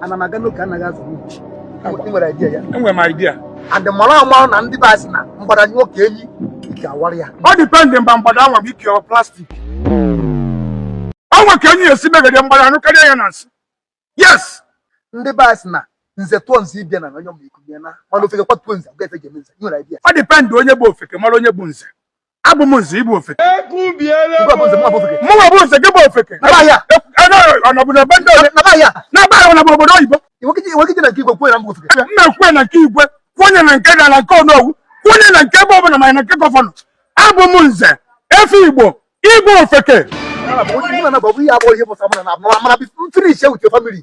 ana m aga n'oke anaghị azụ ị nwere idea ya enwere m idea and mara amara na ndị be anyị sị na mgbada nyụọ ka enyi ike awara ya ọ depend mba mgbada anwa bụ ike plastic o nwe ka enyi ga-esi megide mgbada anyụkarịa ya na nsị yes ndị be anyị sị na nze tụọ nze ịbịa na onye ọmụiku bịa na mana ofeke kwatuo nze ga efe ga-eme nze ị nwere idea ọ depend onye bụ ofeke mara onye bụ nze abụ m nze ị bụ ofeke mụnwa bụ nze gị bụ ofeke ọnọbụna be ndị ole na-aba ahụ na bụ obodo oyibo mmekwe na nke igwe kwụnye na nke gaa na nke onowu kwụnye na nke ebe ọbụla ma na nke gọvanọ abụ m nze efe igbo igwe ofeke finish with your family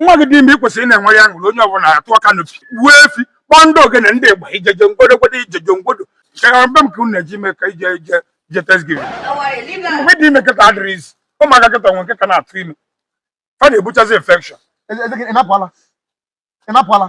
nwa gị dị ime i kwesịrị ịna-enwere aṅụrị onye ọbụla atụọ canopy gbuo efi kpọọ ndị ogene ndị igba ijeje ngwodo gwodo ijeje ngwodo chegara mbe m ka unu na-eji ime ka ije ije ije thanksgiving mgbe dị ime kịta adịrọ easy ụmụaka kịta nwe nke ka na-atụ ime fa na-ebuchazi infection ị na-apụ ala ị na-apụ ala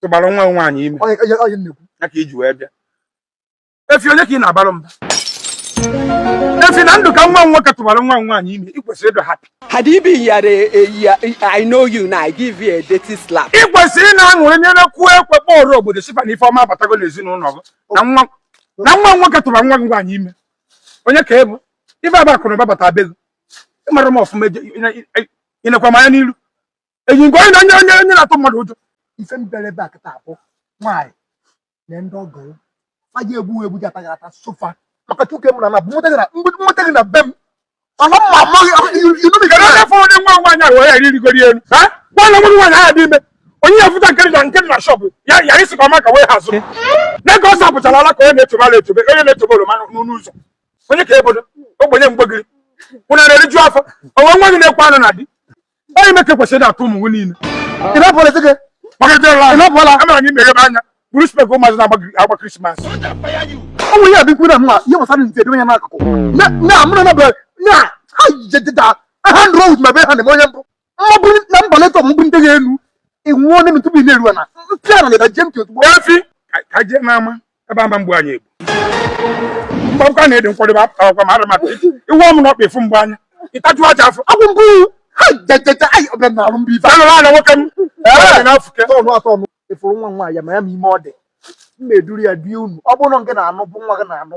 tụbara nwa gị nwaanyị ime Onye- onye- onye nnekwu. ya ka i ji wee bịa efi onye ka ị na-abara mba efi na ndụ ka nwa m nwoke tụbara nwa m nwaanyị ime ị kwesịrị ịdị happy Had he been here, eh, eh, yeah, eh, I know you now. I give you a dirty slap. ị kwesịrị ịna-aṅụrị nyere kụọ ekwe kpọrọ obodo sị fa na ife ọma abatago n'ezinụlọ gị na nwa na nwa nwoke tụbara nwa gị nwaanyị ime onye ka ị bụ ibe aba akụrụ bata be gị ị mara m ọfụma eje- ị- ị- ịnekwa m anya n'iru eji nke onye onye onye onye na-atụ mmadụ ụjọ ife mbere ebe a kịta abụ nwaanyị na ndị ọgọ ya fa ji egbu egbu ji ataghị ata sofa maka chuke m na na nweta gị na nweta gị na be m ọla mma amaghị inubi gara onye fọrọ onye nwa nwaanyị ahụ ya iri rigoro elu ha nwanne nwa nwaanyị ahụ dị ime onye ya fụta nkiri na nkiri na shọpụ ya ya isi ka ọma ka wee hazụ na ka ọ sapụchara ala ka onye na-etobe ala etobe onye na-etobe oroma n'ụlọ ụzọ onye ka ebodo ogbenye mgbegiri kwụna na-eriju afọ o nwe nwa gị na-ekwe anụ na di onye meke kwesịrị akụ ụmụ nwe niile ị na-apụ ala gị ị na-apụ ala amara gị meghere anya bụrụ spec ụmụazị na-agba krismas ọ nwere ya bikwu na mma ihe gbasara nze edowe ya n'akụkụ na amụrụ na na ha jededa ha ṅụrụ weed ma be ha na-eme onye mbụ mmabụ na mba letọ mbụ ndị ga-enu ịnwụọ n'elu tupu ị na-eru na mpịa na leda jem ozugbo efi ka jee n'ama ebe ama mgbe anyị egbu mgbakwa na ịdị nkwadebe akpakwa ma arụmaka iwe ọmụ na ọkpa efu mgbe anya ịtaju aja afọ agwụ mbụ anụrụ ana nwoke m na-afụke tọnụ atọnụ efuru nwa nwa ya ma ya ma ime ọ dị mma duru ya die unu ọ bụrọ ngị na-anụ bụ nwa gị na-anụ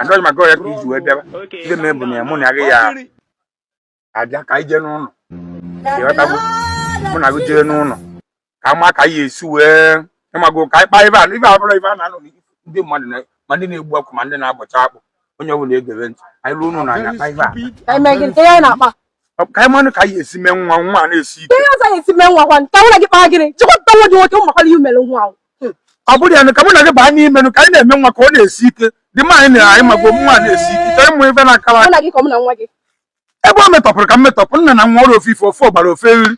Android maka ọ ya ka i ji wee bịaba. Ndị mee bụ na ya mụ na gị ya abịa ka anyị jee n'ụlọ. Ịghọtago? Mụ na gị jee n'ụlọ. Ka ma ka anyị esi wee ịmago ka anyị kpaa ife a ibe a abụrọ ibe a na-anọ ndị mmadụ na ma ndị na-egbu ọkụ ma ndị na-abọcha akpụ onye ọbụla egebe ntị anyị ruo n'ụlọ anyị akpaa ife a ka anyị manụ ka anyị esi mee nwa nwa na-esi ike ọ bụrụ ya ka mụ na gị baa n'ime ka anyị na-eme nwa ka ọ na-esi ike di m anyị na anyị magbo nwa na-esi ike chọọ ịmụ ife na-akara ebe o metọpụrụ ka m metọpụ nna na nwa ọrụ ofu ife ofe ọ gbara ofe eriri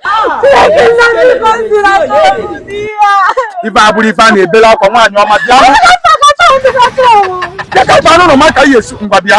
ibe a abụrọ ibe a na-ebere akwa nwaanyị ọma bịa bịa ka baa n'ụlọ ma ka ihe esi ngwa bịa